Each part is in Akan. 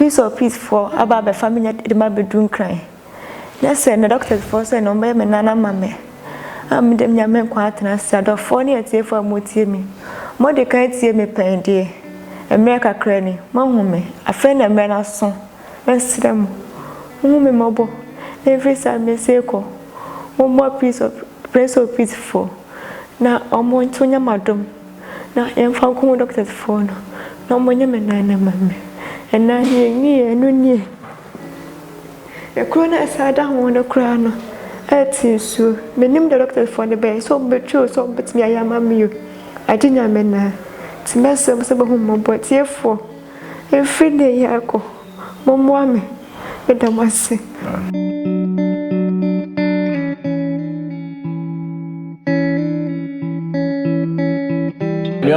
Prince of Peace foɔ aba abɛfa me de me abɛduru Nkran. Na sɛ me doctors foɔ sɛ na wɔbɛyɛ me nan ama me a me deɛ menya me nkwa atena ase. Adɔfoɔ ne atiefoɔ a motie me, mode kan atie me pɛn deɛ, mmerɛ kakra ni, moahu me, afei na mmerɛ no aso. Mɛsrɛ mo, monhu me mmɔbɔ, ɛmfiri saa mɛsi rekɔ. Mommɔ Prince of. Praise office foɔ na ɔmo nso nyɛ m'adom na yɛnfa nko ho doctors foɔ no na ɔmo nyɛ me nan no ma me ɛnɛ deɛ nwie ɛno nie ɛkuro no a ɛsan da ho no koraa no ɛte nsuo menim deɛ doctors foɔ no bɛyɛ sɛ ɔmo bɛtwi o sɛ ɔmo bɛtumi ayɛ ama me o agye nyame naa ti mɛsrɛ mo sɛ bɛhu mmɔbɔ tiefoɔ Ɛfiri nnɛ yi ara kɔ, mommoa me. Meda mo ase.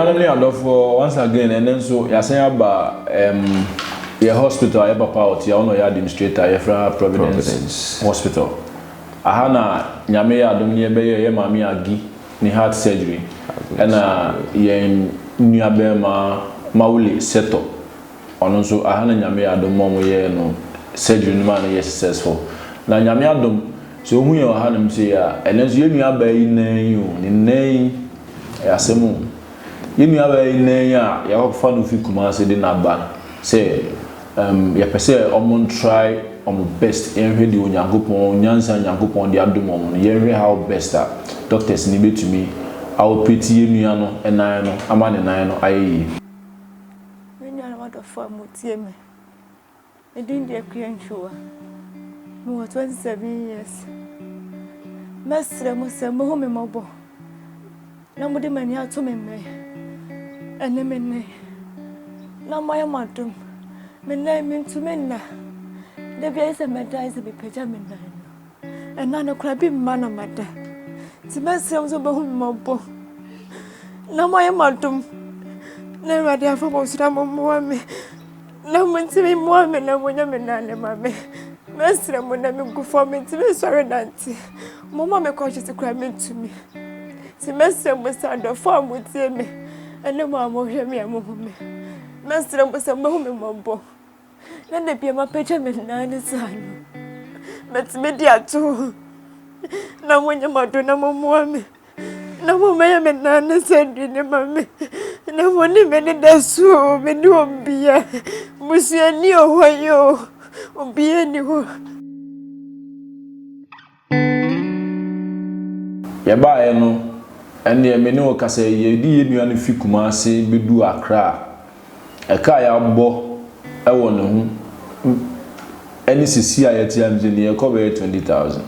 Anuanom ne adɔfoɔ, once again, ɛnnɛ nso yɛasan aba um, yɛn hospital a yɛn papa a ɔte ha, ɔno na ɔyɛ administrator, yɛfrɛ ha Providence, Providence. Hospital. Aha na Nyame yɛ adom no yɛbɛyɛɛ yɛn maame Aggie ne heart surgery ɛna yɛn nua bɛɛma Mawuli Sɛtɔ ɔno nso aha na nyame yɛ adom ma ɔmo yɛɛ no surgery no maa no yɛɛ successful na nyame adom sɛ ohu yɛn wɔ ha nom sei a ɛnɛ nso yɛn nua baa yi nan yi o ne nan yi ɛyɛ asɛm o yɛn nua baa yi nan yi a yɛakɔfa no fi Kumasi de no aba sɛ Um, yɛpɛ sɛ wɔn try wɔn best. Yɛnhwɛ deɛ Onyankopɔn, nyansa a Nyankopɔn de adom wɔn no, yɛnhwɛ how best a doctors no bɛtumi aoperate yɛn nua no nan no ama ne nan no ayɛ yie. Me nuanom adɔfoɔ a motie me, me din de Akua Ntwowa. Mewɔ 27 years. Mɛsrɛ mo sɛ mohu me mmɔbɔ. Na mode mo ani ato me mmɛ ɛne me nne, na moayɛ mo adom. Me nan mentumi nna. Da bi ayɛ sɛ mɛda ayɛ sɛ mepagya me nan no. Ɛna no koraa bi mma na mada. Nti mɛsrɛ mo sɛ mobɛhu me mmɔbɔ. Na moayɛ mo adom. Na Awurade afa mo so na mommoa me. Na montumi mmoa me na monyɛ me nane ma me. Mɛsrɛ mo na megu fam mentumi nsɔre nante. Momma me kɔ tete koraa mentumi. Nti mɛsrɛ mo sɛ adɔfo a motie me ne mo a mohwɛ me a mohu me. Mɛsrɛ mo sɛ mohu me mmɔbɔ. Na da bia mapagya me nan ne saa no. Mɛtumi de ato hɔ. Na monyɛ m'adɔ na mommoa me. na mommɛyɛ me nan ne sɛ aduane ma me na mone me ne da so o mene obia busuani ɔhɔ yi o obia ni hɔ Yɛbaeɛ no, ɛnneɛ me ne ɔkasa yi, yɛde yɛn nua no fi Kumasi bɛduu Accra. Ɛka a yɛabɔ wɔ ne ho ne sisi a yɛte ase yi deɛ ɛkɔ bɛyɛ twenty thousand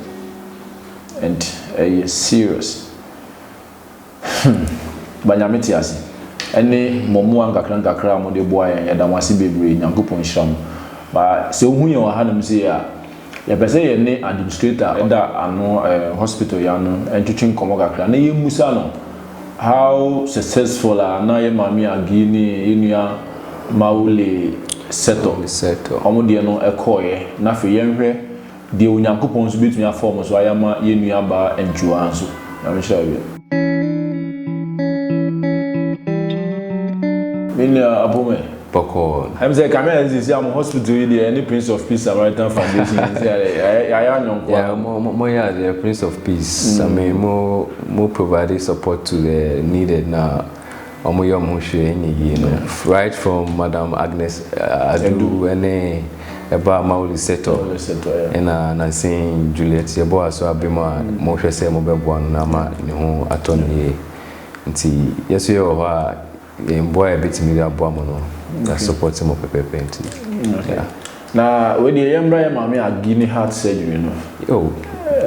and ɛyɛ serious. Hmm, ba Nyame te ase ɛne mo mmoa nkakra nkakra a mode boa yɛn, yɛda mo ase bebree, Nyankopɔn nhyira mo. Ba sɛ wohu yɛn wɔ hanom sei a, Yɛpɛ sɛ yɛne administrator a ɔda ano ɛɛ hospital yi ano ntwetwe nkɔmmɔ kakra na yɛmmisa no how successful a na yɛ Maame Aggie ne yɛ nua Mao Le Seto wɔn deɛ no kɔeɛ na afei yɛnhwɛ deɛ Onyankopɔn nso bɛtumi afa wɔn so ayɛ ama yɛ nua baa Antiwaa nso. Nyame nhyira wo bio. Me nua Apoomey, bɔkɔɔ. Ɛm sɛ kame ayɛ sɛ si a mo hospital yi deɛ ɛne prince of peace samaritan foundation yi sɛ yɛ yɛ ayɛ anyɔnkoa. Yeah mo mo mo yɛ adeɛ prince of peace same mo mo provide support to the needed na wɔn yɛ wɔn ho hwee ɛnyɛ yie no right from madam agnes adu ɛne ɛbaa mawuli sɛtɔ ɛna nansen juliet yɛ bɔ aso abɛ mu a mo hwɛ sɛ mo bɛ boa no na ama ne ho atɔ no yie nti yɛ so yɛ wɔ hɔ a. Mboa a yɛbɛtumi de aboa mo no, yɛ support mo pɛpɛɛpɛ nti yeah. Na wei deɛ yɛmmra yɛ maame Agi ne heart surgery no. Oh,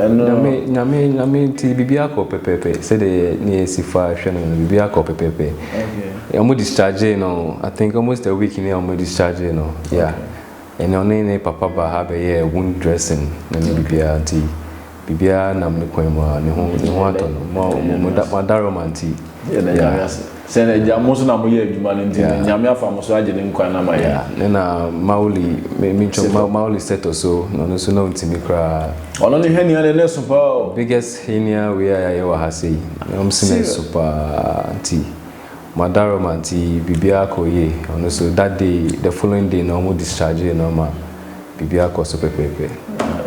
nyame nyame nyame nti biribi akɔ pɛpɛɛpɛ sɛdeɛ yɛ ne yɛ si fa hwɛ no no biribi akɔ pɛpɛɛpɛ. Okay. Wɔn discharge no I think almost a week ni a wɔn discharge no yeah. Okay. Ɛnna ɔne ne papa ba ha bɛyɛ wound dressing na ne biribiara nti. Biribiara nam ne kwan mu a ne ho ne ho atɔ no. Mo mo mo da mo ada Roma nti. Yɛ na nyame ase. Sɛ na gya mo nso na mo yɛ adwuma no nti no nyame afa mo so agye ne nkwa na ma yɛ. Ne na Mauli me me ntwom Mauli Seto so na ɔno nso na ɔntumi koraa. Ɔno ne henia na ɛnɛ so paa o. Biggest henia wei a yɛayɛ wɔ ha sei na ɔmo se na ɛso paa nti. Madaroma nti biribiara kɔɔ yie, ɔno nso that day, the following day no wɔn dischargee no ma biribiara kɔɔ so pɛpɛɛpɛ.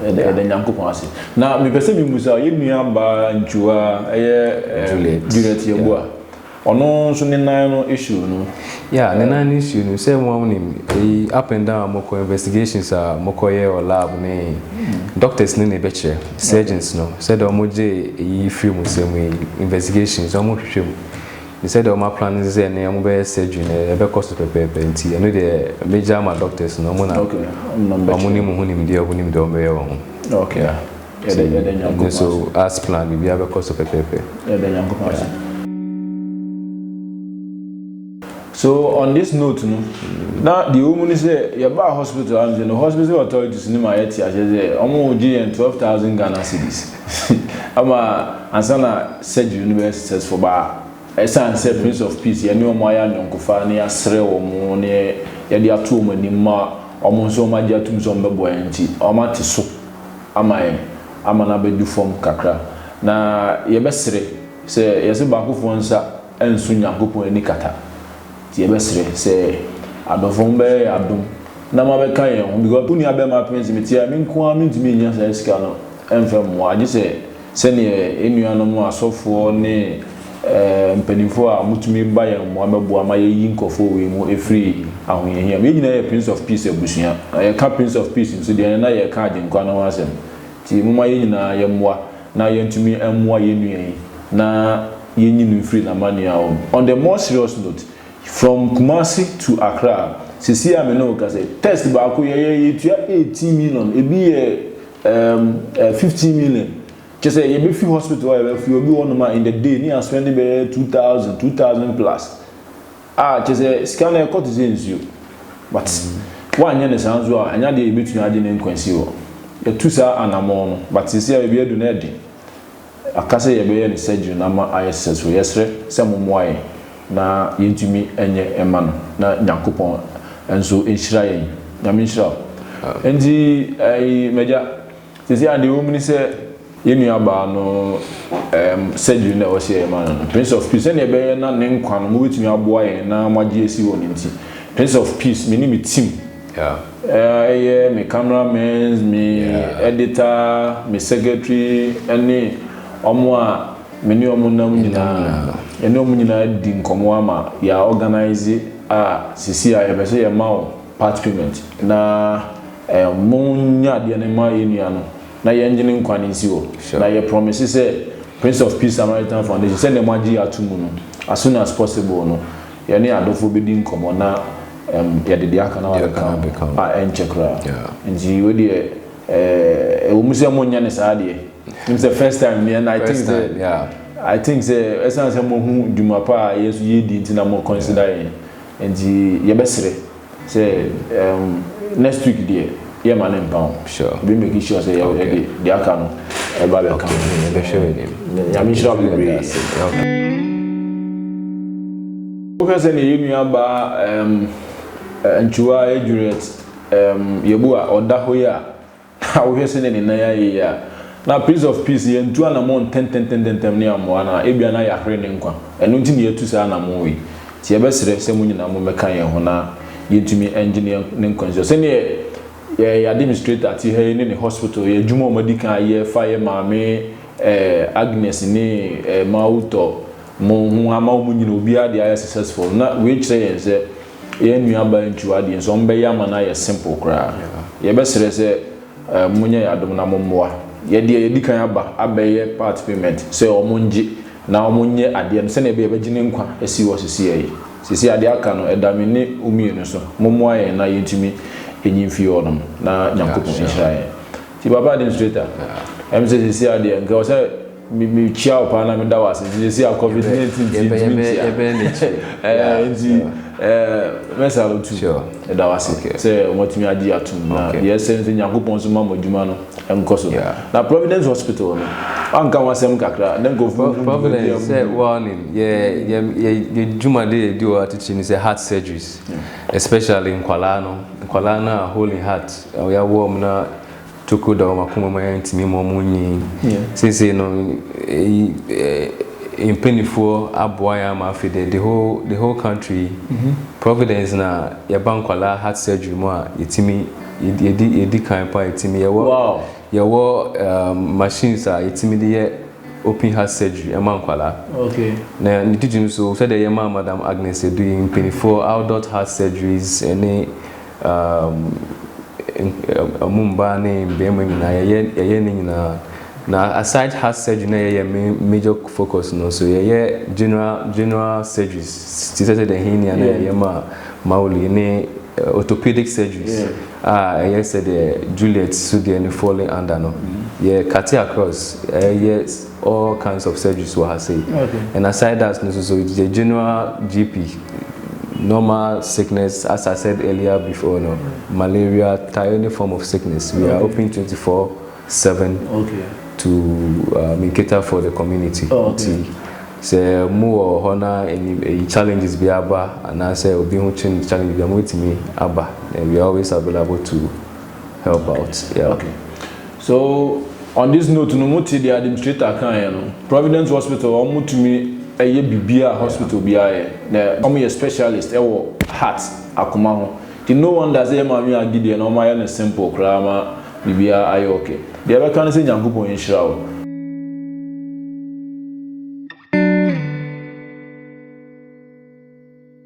Yɛda yɛda Nyankopɔn ase. Na mepɛ sɛ mimisa wo, yɛn nua baa Ntua, ɛyɛ Juliet, Juliet Yeboah, yeah. ɔno nso ne nan no issue no. Yeah, ne nan no issue no, sɛ wɔn nim, eyi up and down a wɔkɔ, investigations a wɔkɔ yɛ wɔ lab ne doctors ne na ɛbɛkyerɛ, surgeons no, sɛdeɛ wɔn gye eyi firi mu sɛ mu yi, investigations, wɔn hwehwɛ mu. ne sɛdeɛ wɔn aplan ne sɛ ne wɔn bɛyɛ surgery no ɛbɛkɔ so pɛpɛɛpɛ nti ɛno deɛ mɛgya ama doctors no wɔn na wɔn ne mu ho nimdeɛ wɔn nim deɛ wɔn bɛyɛ wɔ ho nti ne so as plan biribiara bɛkɔ so pɛpɛɛpɛ. Yɛda Nyankopɔn ase. So on this note no na deɛ ɛwɔ mu ne sɛ yɛbaa hospital ha no sɛ no hospital authorities no ma yɛte aseɛ sɛ wɔn gye yɛn twelve thousand Ghana cedis. Ama ansa na surgery no bɛyɛ successful ba ɛsiane sɛ Prince of Peace yɛne wɔn ayɛ ayɔnkofa na yɛasrɛ wɔn na yɛde ato wɔn anim ma wɔn nso wɔagye atom sɛ wɔbɛboa yɛn nti, wɔate so ama yɛn ama no abɛdu fam kakra. Na yɛbɛsere sɛ yɛse baakofoɔ nsa nso Nyankopɔn ani kata. Nti yɛbɛsrɛ sɛ adɔfoɔ mo bɛyɛ yɛn adom na mo abɛka yɛn ho because wo nua bɛɛma Prince me te a me nko ara mentumi nnya saa sika no mfɛ mmoa gye sɛ sɛdeɛ yɛn nua nom asɔfoɔ ne ɛɛ mpaninfoɔ a mo tumi ba yɛn mmoa bɛboa ma yɛyi nkorɔfoɔ wei mu ɛfiri ahohiahia mu yɛn nyinaa yɛ Prince of Peace abusua na yɛka Prince of Peace nso deɛ ɛnɛ na yɛreka Agyenkwa no ho asɛm nti momma yɛn nyinaa yɛmmoa na yɛntumi mmoa yɛn nua yi na Yɛnyi no mfiri n'amanneɛ a ɔn. On the more serious note, from Kumasi to Accra, seesei a me ne wo rekasa yi, test baako yɛyɛɛ yɛtua eighteen million, ebi yɛ um fifteen million. Kyerɛ sɛ yɛbɛfi hospital hɔ a yɛbɛfrɛ obi wɔ hɔnom a in the day ne yɛ spend bɛyɛ two thousand, two thousand plus. Ah, kyerɛ sɛ sika no ɛkɔ te sɛ nsuo. But woanyɛ no saa nso a, ɛnyɛ adeɛ a yɛbɛtumi agye ne nkwa asi hɔ. Yɛatu saa anammɔn no, but seesei a baabi adu no ɛyɛ den. Aka sɛ yɛbɛyɛ no surgery no ama ayɛ sɛ so yɛsrɛ sɛ mo moa yɛn na yɛntumi nyɛ ma no na Nyankopɔn nso nhyira yɛn. Nyame nhyira wo. Nti ɛɛi m'agya sɛsɛi a deɛ ɛwɔ mu ne sɛ yɛn nua baa no ɛɛm surgery no a ɛwɔ sɛ yɛyɛ ma no no Prince of Peace sɛdeɛ ɛbɛyɛ na ne nkwa no mobɛtumi aboa yɛn na moagye asi hɔ no nti Prince of Peace me ne me team Yeah. Ɛyɛ me camera men's, me editor, me secretary ɛne wɔn a me ne wɔn nam nyinaa. Yɛne wɔn nyinaa di nkɔmmɔ ama yɛa organise a seesei a yɛpɛ sɛ yɛma wo part payment na mo nyɛ adeɛ no ma yɛn nua no na yɛngye ne nkwa no nsi hɔ. Na yɛ promise sɛ Prince of Peace Samaritan Foundation sɛdeɛ moagye yɛn ato mu no as soon as possible no Yɛne adɔfoɔ bɛdi nkɔmmɔ na yɛde deɛ aka no abɛka ho a ɛnkyɛ koraa. Nti wei deɛ ɛwɔ mu sɛ monyɛ no saa deɛ. Nim sɛ first time ni and I think sɛ I think sɛ ɛsiane sɛ moahu dwuma pa a yɛn nso yɛredi nti na mo consider yɛn. Nti yɛbɛsrɛ. Sɛ um next week deɛ yɛ ma ne mpa o. Sure. Yɛbɛ make sure sɛ yɛ de deɛ aka no ɛba bɛ ka. Okay, yɛbɛ hwɛ wɔ nim. Nyame nhyira wo bebree. Okay. Wohwɛ sɛ ne yɛ nua baa um, Nkyuwa yɛ Juliet um, Yɛbu a ɔda hɔ yi a. Na wohwɛ sɛnea ne nan ayɛ yi a, na Prince of Peace yɛantu anammɔn ntɛntɛntɛntɛm ne amoa no a, ebia na yɛahwere ne nkwa. Ɛno nti na yɛatu saa anammɔn yi. Enti yɛbɛsrɛ sɛ mo nyinaa mommɛka yɛn ho na yɛntumi nnye ne nkwa nsi hɔ. Sɛnea yɛn Administrator te ha yi ne ne hospital, yɛn adwuma a wɔadi kan ayɛ fa yɛn maame Agnes ne Mawutɔ mo ho ama wɔn nyinaa obiara deɛ ayɛ successful no, na wei kyerɛ yɛn sɛ, Yɛn nuabaa ntua deɛ nso ɔmo bɛyɛ ama no ayɛ simple koraa yɛbɛsrɛ sɛ mo nyɛ yɛ adom na mo mmoa yɛ deɛ yɛdi kan aba abɛyɛ part payment sɛ ɔmo ngye na ɔmo nyɛ adeɛ no sɛdeɛ ɛbɛyɛ yɛbɛgye ne nkwa asi hɔ sesia yi sesia adeɛ aka no ɛda me ne wo mmienu so mo mmoa yɛn na yɛntumi nyi mfiri hɔ nom na Nyankopɔn nhyira yɛn nti papa administrator ɛm sɛ sesia deɛ nka ɔsɛ me me kyia wo paa na me da wo ase nti yɛsi a covid nineteen nti yɛbɛ yɛbɛ yɛbɛ n'akyi ɛɛ nti ɛɛ mɛsa wo tu ɛda wo ase sɛ wɔatumi agye atum na deɛ ɛsɛ nso nyankopɔn nso ma mo adwuma no ɛnkɔ so na providence hospital no wanka ho asɛm kakra na nkurɔfoɔ mu providence sɛ wɔnim yɛ yɛ yɛ yɛ dwuma de yɛ di wɔ atitiri ne sɛ heart surgeries especially nkwalaa no nkwalaa no a holy heart ɔyɛ wɔm na Toko da wɔn akoma mu a ɛntumi ma wɔnnyin. Seesei no, mpanimfoɔ aboa yɛn ama afei deɛ the whole the whole country Providence na yɛba nkwadaa heart surgery mu a yɛtumi yɛdi yɛdi kan pa yɛtumi yɛwɔ yɛwɔ machines a yɛtumi de yɛ open heart surgery ɛma nkwadaa. Na ne titiriw nso sɛdeɛ yɛmaa Madam Agnes Adui mpanimfoɔ adult heart surgeries ne Umm um mbaa ne mbarimba nyina yɛyɛ yɛyɛ ne nyina na aside heart surgery na yɛyɛ me major focus no so yɛyɛ general general surgeries ti sɛ sɛ dɛ hernia na yɛyɛ ma Mauli ne orthopedic surgeries a ɛyɛ sɛ dɛ Juliet so deɛ no falling under no yɛ cut across ɛyɛ all kinds of surgeries wɔ ha sei ɛna side dance no soso it's a general gp normal sickness as i said earlier before no malaria tie any form of sickness we are open 24 7 okay. to um, cater for the community oh, okay. sɛ mo wɔ hɔ na ɛyi challenges bi aba anaasɛ obi ho twin challenge bi a mo betumi aba and we are always available to help out yeah. okay. So on this note no mote deɛ admnistrator kaeɛ no, Providence hospital wɔn tumi yɛ biribiara a hospital biara yɛ na wɔn yɛ specialist wɔ heart, akoma ho, nti no wonder sɛ yɛn maame Agi deɛ no wɔn ayɛ no simple koraa ma biribiara ayɛ ok. Deɛ yɛbɛka ne sɛ Nyankopɔn nhyira wo.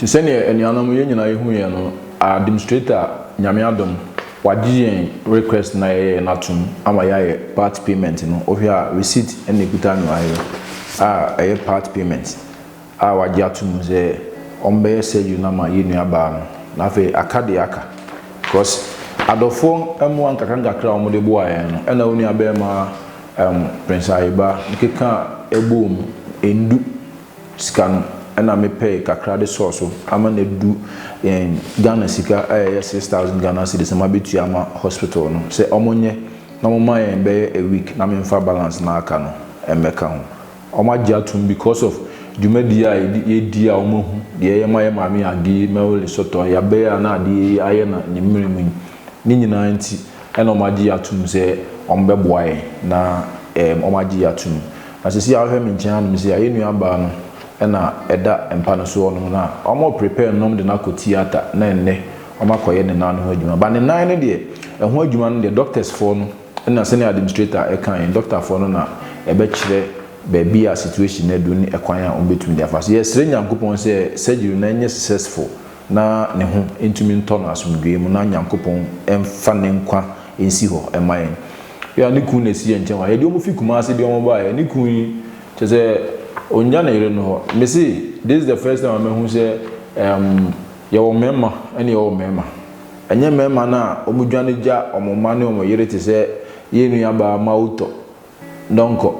Te sɛ nea anuanom yɛn nyinaa yɛhu yɛn no, administrator, Nyame adom, wagye yɛn request no a yɛyɛeɛ no atom ama yɛayɛ part payment no. Wohwɛ a receipt na ɛkuta me wɔ ha yi a ɛyɛ part payment a wagye atom sɛ wɔbɛyɛ surgery no ama yɛn nuabaa no. Na afei aka deɛ aka because adɔfoɔ mmoa nkakrankakra a wɔde boaa yɛn no, ɛna wo nuabarima Erm Prince Ayeba keka a ɛbɔɔ mu ɛndu sika no ɛna me pɛɛ kakra de sɔɔ so ama no adu yɛn Ghana sika a ɛyɛ six thousand Ghana cedis na mabɛtua ama hospital no sɛ wɔn nyɛ na wɔn ma yɛn bɛyɛ a week na me mfa balance no a aka no mmɛka ho. Wɔn agye atom because of dwumadie a yɛdi a wɔn ahu deɛ yɛma yɛ maame Aggie, Mary Lesotho, Yabɛɛ a na adeɛ yi ayɛ na ne mmerɛ mu yi. Ne nyinaa nti, ɛna wɔagye yɛn atom sɛ wɔbɛboa yɛn na ɛɛm wɔagye yɛn atom. Na seesei a wohwɛ me nkyɛn hanom sei a, yɛn nuabaa no na ɛda mpa no so hɔnom na wɔreprepare no na wɔde no akɔ theatre na ɛnnɛ wɔakɔyɛ ne nan no ho adwuma. But ne nan no deɛ, ɛho adwuma no deɛ, dɔktɛsfoɔ no na sɛdeɛ administrator ɛkaa yɛn, dɔktafoɔ no na ɛbɛkyerɛ baabi a situation no aduru ne ɛkwan a wɔbɛtumi de afa so. Yɛsrɛ Nyankopɔn sɛ surgery no nyɛ successful. na ne ho ntumi ntɔ no asomdwoeɛ mu na Nyankopɔn mfa ne nkwa nsi hɔ mma yɛn. Ebia na ne kunu na ɛsi yɛn nkyɛn hɔ a, yɛde wɔn fi Kumasi de wɔn baeɛ. Ne kunu yi, kyerɛ sɛ ɔnnya ne yere no hɔ. Me se, this is the first time a mahu sɛ ɛɛm yɛwɔ mmarima ɛna yɛwɔ mmarima. Ɛnyɛ mmarima no a wɔdwane gya wɔn mma ne wɔn yere te sɛ yɛn nuabaa Mawutɔ. Donkor,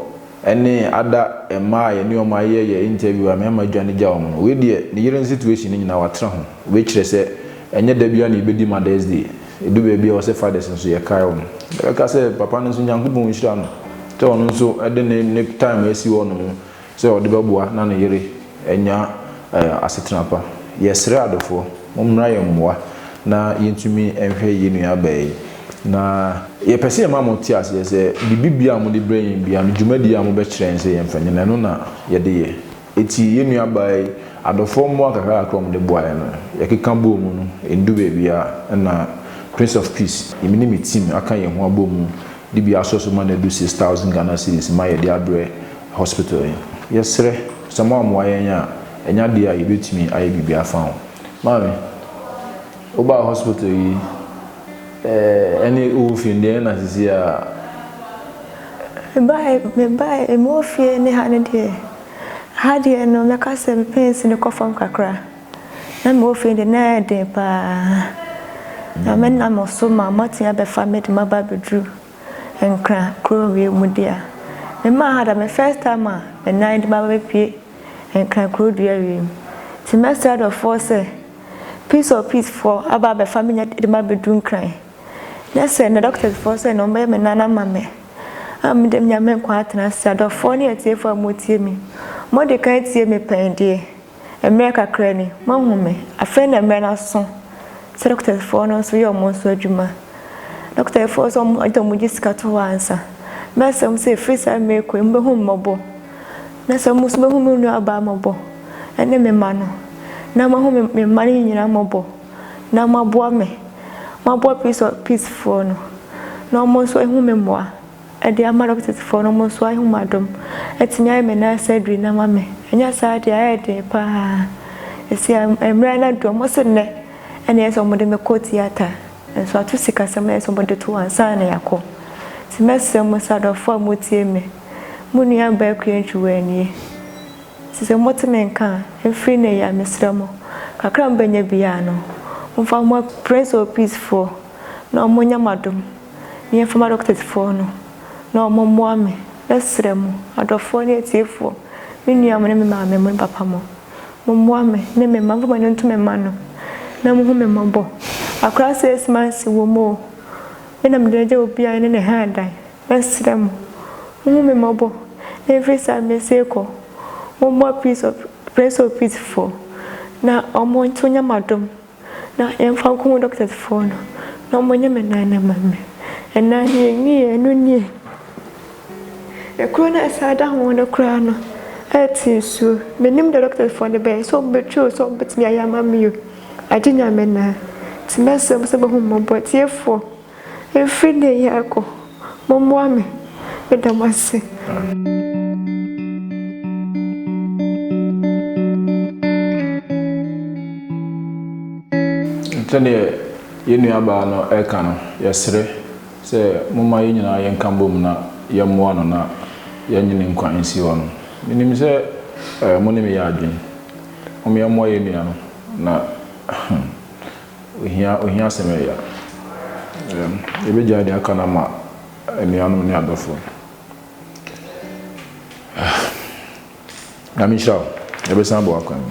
Ɛne ada mmaa a yɛne wɔn ayɛ yɛ interview a mɛma adwane gya wɔn no. Wei deɛ ne yere no situation no nyinaa watra ho. Wei kyerɛ sɛ ɛnyɛ da biara na yɛbɛdi Mother's Day. Ɛdu baabi a ɛwɔ sɛ Fathers nso yɛkae wɔn. Yɛbɛka sɛ papa no nso Nyankopɔn nhyira no sɛ ɔno nso de ne ne time asi hɔnom sɛ ɔde bɛboa na ne yere anya asetena pa. Yɛsrɛ adɔfoɔ, mommra yɛn mmoa na yɛntumi nhwɛ yɛn nuabaa yi. Na yɛpɛ sɛ yɛma mote aseɛ sɛ, biribi biara a mode brɛ yɛn biara no, dwumadie a mobɛkyerɛ yɛn sɛ yɛmfa nyɛ no, ɛno na yɛde yɛ. Enti yɛn nuabaa yi, adɔfoɔ mmoa kakrakakra a wɔde boa yɛn no, yɛkeka bɔɔ mu no, ɛndu baabiara. Ɛnna Prince of Peace, me ne me team aka yɛn ho abɔ mu de bi asɔ so ma no adu six thousand Ghana cedis mma yɛde abrɛ hospital yi. Yɛsrɛ, sɛ moammoa yɛn a, ɛnyɛ adeɛ a yɛbɛtumi ayɛ biribi afa ho. Maame, wobaa hospital yi ɛne wowɔ fie no deɛ ɛyɛ na seesei ara? Mebaeɛ, mebaeɛ, mewɔ fie ne ha no deɛ, ha deɛ no mɛka sɛ me pains no kɔ fam kakra. Na me ofie de na ɛyɛ den paa. Na me nam so ma moatumi abɛfa me de maba abɛduru Nkran kuro wie mu deɛ a. Me maa ha da me first time a me nan de maba bɛpue Nkran kuro dua wie mu. Nti mɛsrɛ dɔfoɔ sɛ peace of peace foɔ aba abɛfa me de ma abɛduru Nkran. Na sɛ me doctors foɔ sɛ na wɔbɛyɛ me nan ama me a me deɛ menya me nkwa atena ase. Adɔfoɔ ne atiefoɔ a motie me, mode kan tie me pɛn deɛ. Mmerɛ kakra ni, moahu me. Afei na mmerɛ no aso sɛ dɔkotafoɔ no nso yɛ wɔn nso adwuma. Dɔkotafoɔ nso, wɔn de wɔgye sika to hɔ ansa. Mɛsrɛ mo sɛ ɛfiri saa mmerɛ yi kɔ yi, mobɛhu me mmɔbɔ. Na sɛ mo nso mobɛhu me nuabaa mmɔbɔ, ne me mma no. Na moahu me me mma no nyinaa mmɔbɔ, na moaboa me. Moaboa peace peacefoɔ no, na wɔn nso ahu me mmoa. de ama dɔkotesfoɔ no, wɔn nso ayɛ wɔn adom atumi ayɛ me nan surgery no ama me, ɛnyɛ saa deɛ ayɛ den paa, ɛsi a mmerɛ no adu, wɔn se nnɛ na ɛyɛ sɛ wɔde me kɔ theatre, nso ato sikasɛm na ɛyɛ sɛ wɔde to hɔ ansa na yɛakɔ, nti mɛsrɛ mo sɛ adɔfoɔ a motie me, mo nua baa Akua Ntwiwaa nie, nti sɛ mote me nka a, ɛmfiri nnɛ yi a mesrɛ mo, kakra a mobɛnya biara no, momfa mma Prince of Peace foɔ na wɔnyɛ mo adom. me yɛmfama doctors foɔ no na ɔmo mmoa me mɛsrɛ mo adɔfoɔ ne atiefoɔ me nua mo ne me maame mo ne papa mo mo mmoa me ne me mma momfa mo ani nto me mma no na mo hu me mmɔbɔ akora six months wɔ mu o me na mede agya obi a ne ne ha adan mɛsrɛ mo mo hu me mmɔbɔ ɛmfiri saa mɛsi kɔ mo mmoa prince of prince of peace foɔ na ɔmo nto nyɛ madom na yɛmfa nkɔ ho doctors foɔ no na ɔmo nyɛ me nan no mma me ɛnaa deɛ ɛnyiyɛ no nie ɛkuro no a ɛsan da ho no koraa no ɛte nsuo menim deɛ doctors foɔ no bɛyɛ sɛ ɔmo bɛtwi o sɛ ɔmo bɛtumi ayɛ ama me o agye nyame naa ti mɛsrɛ mo sɛ bɛhu mmɔbɔ tiefoɔ Ɛfiri nnɛ yi rekɔ, mommoa me. Meda mo ase. Sɛdeɛ yɛn nuabaa no reka no, yɛsrɛ sɛ momma yɛn nyinaa yɛnka bom na yɛmmoa no na yɛnnye ne nkwa nsi hɔ no. Menim sɛ mo ne me yɛ adwene. Momma yɛmmoa yɛn nua no na Ohia ohia asɛm yɛ ya. Yɛbɛgyae deɛ aka no ama anuanom ne adɔfo. Nyame nhyira wo. Yɛbɛsan abɔ w'akwan mu.